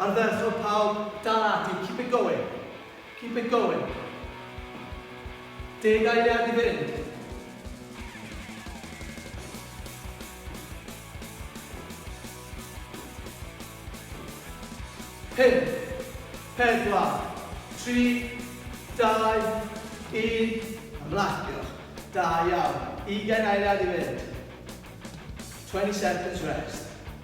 Ardderchog pawb, dal ati, keep it going, keep it going. Deg eiliad i fynd. Pump, pedwar, tri, dau, un, ymlaen, diolch. Da iawn, ugain eiliad i fynd. 20 seconds rest.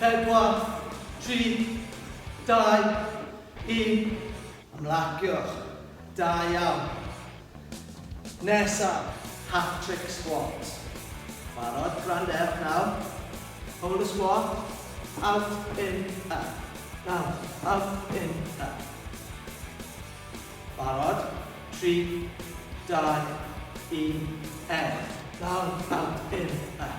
Pedwar, tri, dau, un. Ymlaciwch. Da iawn. Nesaf, half trick squat. Barod? Gwrandewch nawr. Hold a squat. Out, in, up. Nawr, out, in, up. Barod? Tri, dau, un, ewch. Nawr, out, in, up.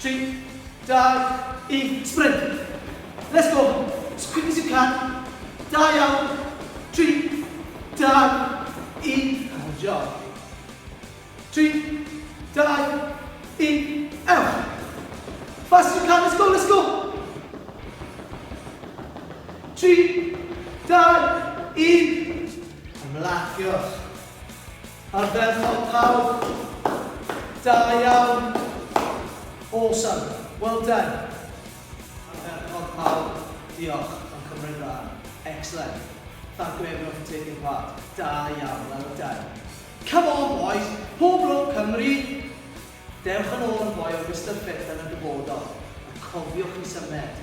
Tri, dau, un, sprint! Let's go! As quick as you can! Da iawn! Tri, dau, un, good job! Tri, dau, un, ewch! Fast as you can, let's go, let's go! Tri, dau, un, ymlaciwch! Ardderchog pawb! Da iawn! Awesome! Well done! Ardderchog pawb! Diolch! Yn Cymru'n dda! Excellent! Thad gwefr wrth y teg i'r wlad! Da iawn! Well done! Come on boys! Pob lwc Cymru! Dewch yn ôl yn foel Mister Fit yn y dyfodol, a cofiwch i symmed!